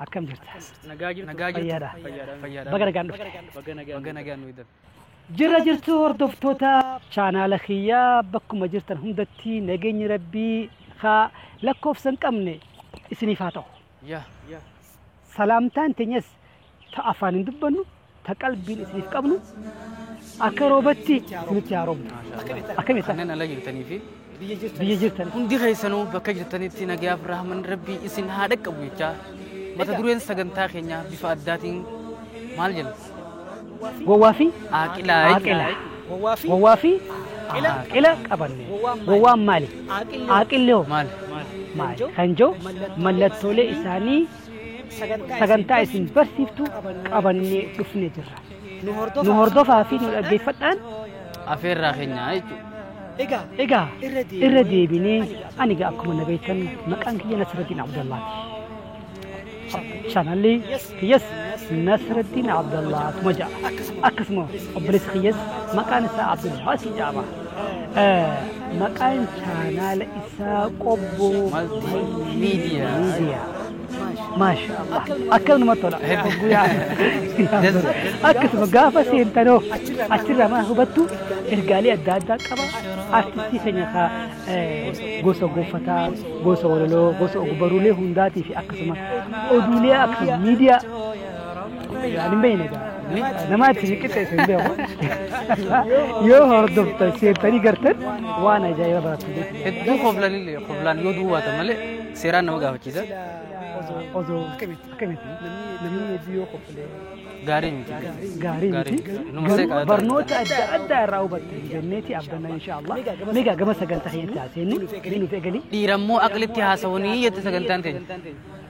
akkam jirta Nagaa jirtu. Nagaa jirtu. Fayyaadha. Fayyaadha. Fayyaadha. baga nagaan dhufte Baga nagaan. Baga nagaan nu hidhan. jirra jirtu hordoftoota chaanaala kiyyaa bakkuma jirtan hundatti nageenyi rabbii haa lakkoofsa hin qabne isiniif haa ta'u Yaa. Yaa. salaamtaan teenyas ta afaan hin dubbannu ta qalbiin isiniif qabnu akka roobatti isinitti haa roobnu akkamitti Kanneen ala jirtanii fi biyya jirtan hundi keessanuu bakka jirtanitti nagayaaf rahman rabbii isin haa dhaqqabu jechaa mata dureen sagantaa keenyaa bifa addaatiin maal jenna? gowwaa fi Aaqilaa. aaqila Gowwaa fi gowwaa fi aaqila qabanne gowwaan maali aaqilli hoo maali? maali kan jiru mallattoolee isaanii sagantaa isin barsiiftu qabannee dhufne jirra. Nu hordofaa fi nu dhaggeeffadhaan afeerraa keenya jechuudha. egaa irra deebinee ani egaa akkuma na beektan maqaan kiyya Nasraddiin Abdallaati. Chaanalli kiyyas Nasraddiin Abdallaatuma jedha. Akkasuma obboleessi kiyyas maqaan isaa Abdulbaasii jedhama. Maqaan chaanaala isaa qobboo miidiyaa. Maasha Allah. Akka namatti tola. Guyyaa. Akkasuma gaafa seentanoo achirraa maal hubattu ergaalee adda addaa qaba. Artistii keenya kaa gosa gonfataa, gosa walaloo, gosa ogbarruulee hundaatii fi akkasuma oduulee akkasuma miidiyaa Ani beeyne gaa. Nama itti siqixxeessu hin beeku. Yoo hordoftan seentanii gartan waan ajaa'iba barattu jechuudha. Hedduu koflan illee koflaan yoo duwwaatan malee seeraan nama gaafachiisa. Osoo akkamitti namni hedduu yoo koflee Gaarii miti. gaarii miti. Numa seeqaa Garuu barnoota adda addaa irraa hubatte jenneeti abdanna inshaallah. Meegaa gama sagantaa keenyatti haaseennu ni nuti egalii. Dhiirammoo aqlitti haasawanii jette sagantaan teenya.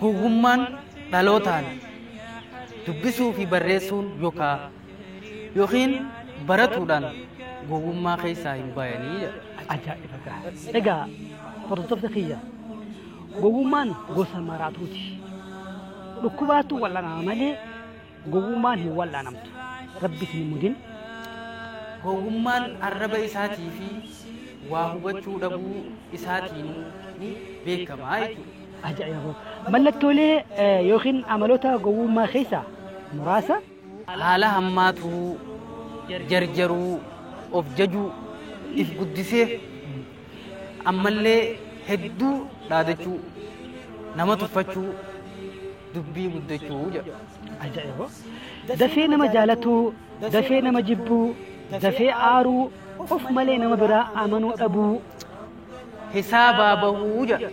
Gowwummaan dhalootaan dubbisuu fi barreessuun yokaa yookiin baratuudhaan gowwummaa keessaa hin bayanii jedha. Ajaa'iba gaa. Egaa hordoftoota kiyya gowwummaan gosa maraatuuti. Dhukkubaatu wal'anaa malee Gowwummaan hin wal'aanamtu. Rabbi isin hin mudin. Gowwummaan arraba isaatii fi waa hubachuu dhabuu isaatiin ni beekama jechuudha. Ajaa'iba! Mallattoolee eh, yookiin amaloota gowwummaa keessaa muraasa Haala hammaatuu, jarjaruu, of jajuu, if guddisee ammallee hedduu dhaadachuu, nama tuffachuu, dubbii guddachuu jedhu. Ajaa'iba! Dafee nama jaalatuu, dafee nama jibbuu, dafee aaruu, of malee nama biraa amanuu dhabuu. Hisaabaa bahuu jedha.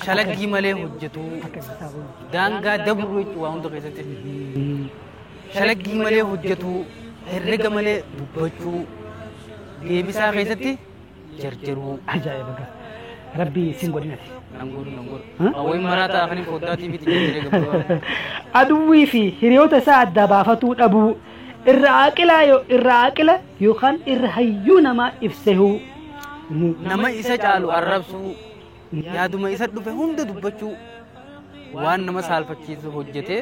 Shalaggii malee hojjetuu. Daangaa dabruu jechuudha waa hunda keessatti. Shalaggii malee hojjetuu, herrega malee dubbachuu. Deebisaa keessatti. jarjaruu ajaa'iba gaa rabbi sin godhinati nan godhu nan godhu Huh? awwain maraataa kanin foddaa tiiviitti jijjiiree gabbaa aduwwii fi hiriyoota isaa adda baafatuu dhabuu irra aaqilaa yo- irra aaqila yookaan irra hayyuu namaa ibsehuu Ni- nama isa caalu arrabsuu yaaduma isa dhufe hunda dubbachuu waan nama saalfachiisu hojjetee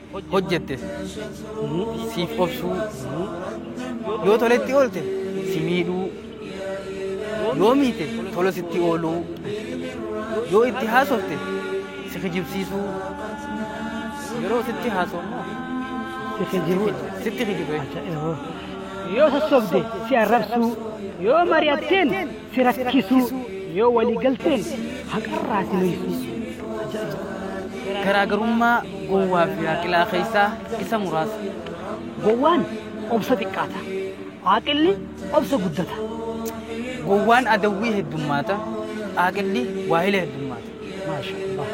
hojjettes siif obsuu yoo toletti oolte si miidhuu yoo miite tola sitti ooluu yoo itti haasofte si kijibsiisuu yeroo sitti haasofnu si kijibu sitti kijibe yoo sossobde si arrabsuu yoo mari'atteen si rakkisuu yoo walii galteen haqarraa si noysu. Garaagarummaa gowwaa fi aaqilaa keessaa isa muraasa. Gowwaan obsa xiqqaata. Aaqilli obsa guddata. Gowwaan adawwii heddummaata. Aaqilli waahila heddummaata. Maasha Allah.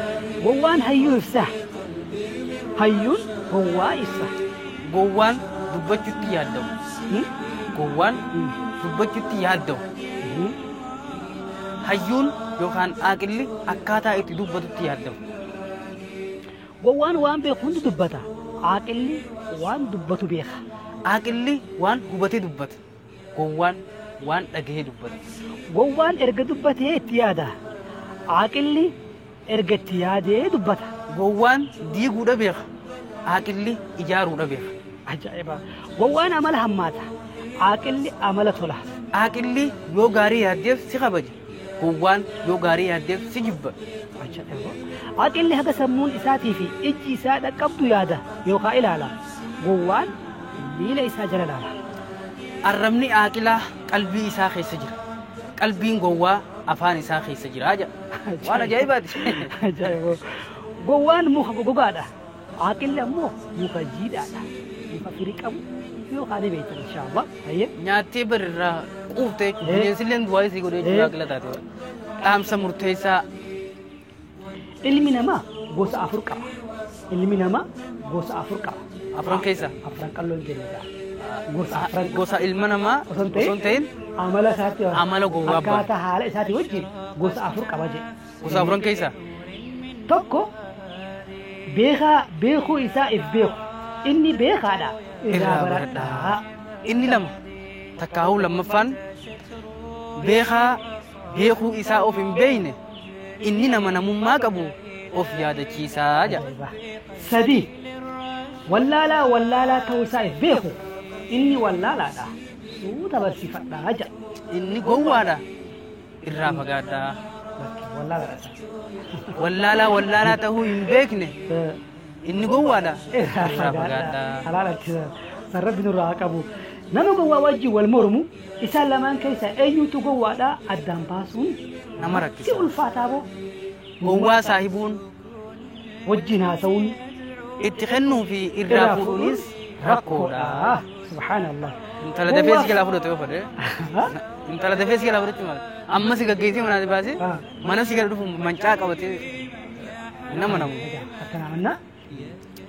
Gowwaan hayyuu ibsa. Hayyuun gowwaa ibsa. Gowwaan dubbachuutti yaaddawu. Hmm? Gowwaan Hmm. dubbachuutti yaaddawu. Hmm. Hayyuun yookaan aaqilli akkaataa itti dubbatutti yaaddawu. Gowwaan waan beeku hundi dubbata. Aaqilli waan dubbatu beeka. Aaqilli waan hubatee dubbata. Gowwaan waan dhagahee dubbata. Gowwaan erga dubbatee itti yaada. Aaqilli erga itti yaadee dubbata. Gowwaan diiguudha beeka. Aaqilli ijaaruudha beeka. Ajaa'iba! Gowwaan amala hammaata. Aaqilli amala tola. Aaqilli yoo gaarii yaaddeef si kabaja. Gowwaan yoo gaarii yaaddeef si jibba. Aqilli haga sammuun isaatii fi ijji isaa dhaqqabdu yaada yookaan ilaala. Gowwaan miila isaa jala ilaala. Arrabni aaqilaa qalbii isaa keessa jira. Qalbiin gowwaa afaan isaa keessa jira jedha. Waan ajaa'ibaati. Gowwaan muka gogaadha. Aaqilli ammoo muka jiidhaadha. Muka firii qabu yoo kaane beektan inshaalla. Hayyee. Nyaattee bar irraa quuftee jechuudha. Bineensi illee du'aa isii godhee jechuudha aaqila taate. Dhaamsa murteessaa. Ilmi namaa gosa afur qaba. Ilmi namaa gosa afur qaba. Afran keessaa. Afran qalloon jenna. Gosa afran. Gosa ilma namaa osoo hin ta'in amala isaatti amala gowwaa akkaataa haala isaatti wajjin gosa afur qaba jedhe. Gosa afran keessaa. Tokko beekaa beekuu isaa if beeku. Inni beekaadha irraa baradhaa. Inni lama takkaahuu lammaffaan beekaa beekuu isaa of hin beeyne inni nama namummaa qabu of yaadachiisaa jedha. Sadii wallaalaa wallaalaa ta'uu isaa if beeku. Inni wallaalaadha suuta barsiifadhaa jedha. Inni gowwaadha irraa fagaadhaa. Wallaalaa wallaalaa ta'uu hin beekne inni gowwaadha irraa fagaadhaa. Halaal harkisaa. San rabbi nurraa haa qabu. Nama gowwaa wajjin wal mormu isaan lamaan keessaa eenyutu gowwaadhaa addaan baasuun Nama si rakkisa. ulfaataa boo. Gowwaa saahibuun wajjin haasa'uun itti kennuu fi irraa irraa fuudhuunis fuudhuun rakkoodha. rakkoodha. Subhaanallah. Intala dafee si jalaa fudhatu yoo fedhe. Intala dafee si jalaa fudhatti maal? Amma si gaggeessee manaa si baasee Ah. mana si gala dhufu mancaa qabatee nama namu. Egaa akkanaa mannaa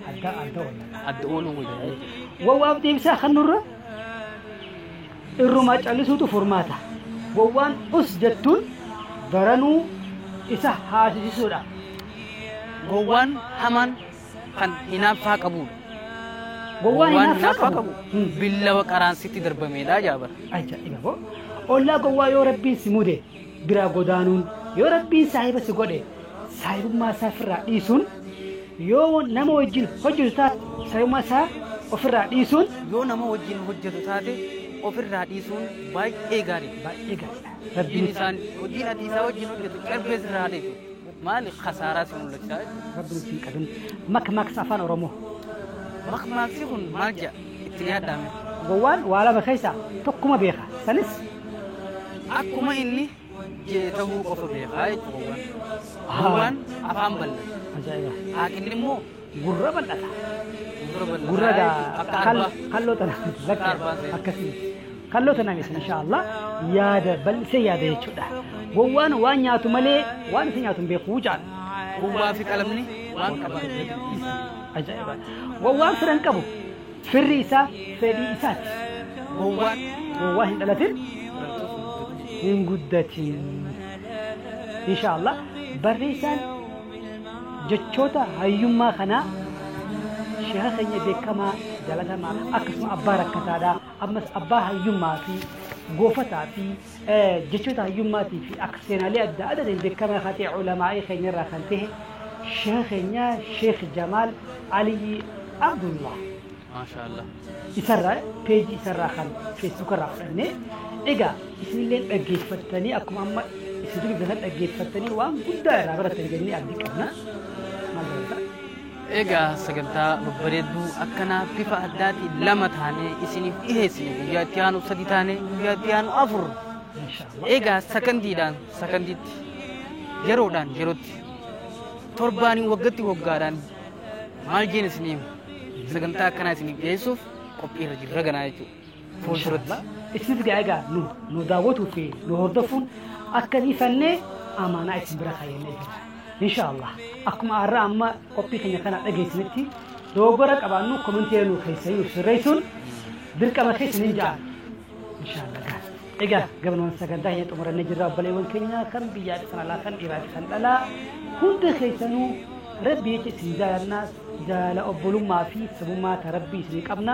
adda adda oolla. Adda ooluu wayya. Wawwaaf deebisaa kan nurra irrumaa callisuutu furmaata. Wawwaan us jettuun baranuu isa haasisisuudha. Gowwaan hamaan kan hinaaffaa qabudha. Gowwaan hinaaffaa qabu. Hmm. Billawa qaraan sitti darbameedha jaabara. Ajaa'iba boo. Ollaa gowwaa yoo rabbiin si mude biraa godaanuun yoo rabbiin saahiba si godhe saahibummaa isaa ofirraa dhiisuun yoo nama wajjin hojjetu taate saahibummaa isaa ofirraa dhiisuun yoo nama wajjin hojjetu taate ofirraa dhiisuun baay'ee gaarii baay'ee gaariidha hojiin rabbiin isaan hojiin ati isaa wajjin hojjetu carbee sirraa dhiisu maali kasaaraa si mul'achaa jechuudha. rabbiin siin qabin makmaaksa afaan oromoo makmaaksi kun maal jedha itti nyaadhaa mee. Gowwaan waa lama keessaa tokkuma beeka. Sanis. akkuma inni jee tahuu qofa beekaa jechuudha gowwaan. Gowwaan afaan bal'ata. Ajaa'iba. Haaqinni immoo Gurra bal'ata. gurra bal'ata. Gurra gaa Akka kal- arbaa. kalloo tana Akka arbaa seena. akkasii. Kalloo tana miti inshaallah yaada bal'isee yaada jechuudha. Gowwaan waan nyaatu malee waan isa nyaatu hin beeku jaan. Gowwaa fi qalamni waan qaban. Ajaa'iba! Gowwaan fira hin qabu. Firri isaa fedhii isaati. Gowwaan gowwaa hin dhalatin hin guddatin. Insha Allah barreessaan jechoota hayyummaa kanaa sheeka keenya beekamaa jalatamaa akkasuma abbaa rakkataadha ammas abbaa hayyummaa fi goofataa fi Jechoota hayyummaatii fi akka seenaalee adda adaatiin beekamaa ka ta'e Ulamaa'ii keenya irraa kan tahe Sheekha keenya Sheekh Jamaal Aliyyi Abdullah Maashaa Allah. isarraa peejii isarraa kan feesbuuka irraa fudhannee egaa isinillee dhaggeeffattanii akkuma amma isin dubbifatan dhaggeeffattanii waan guddaa irraa baratan jennee abdii qabna. Maal barata? Egaa sagantaa babbareedduu akkanaa bifa addaatiin lama taanee isiniif dhiheessine guyyaa itti aanu sadi taanee guyyaa itti aanu afur. Egaa sakandiidhaan sakandiitti yeroodhaan yerootti torbaaniin waggatti waggaadhaan maal jeen isiniif sagantaa akkanaa isiniif dhiheessuuf qophiirra jirra ganaa jechuudha. fuulduratti. Isinis gaa egaa nu nu daawwatuu fi nu hordofuun akka dhiifannee amaanaa isin bira kaayannee jira. Inshaallah akkuma har'a amma qophii keenya kana dhageessanitti dogoggora qabaannu komentii nu keessanii nu sirreessuun dirqama keessa ni ja'an. Inshaallah gaa. Egaa gabanumaan sagantaa hin xumurannee jirra obboleewwan keenya kan biyyaa kan alaa kan dhiiraa kan dhalaa hunda keessanuu rabbi jecha isin jaalannaa jaala obbolummaa fi sabummaa ta rabbii isin qabna.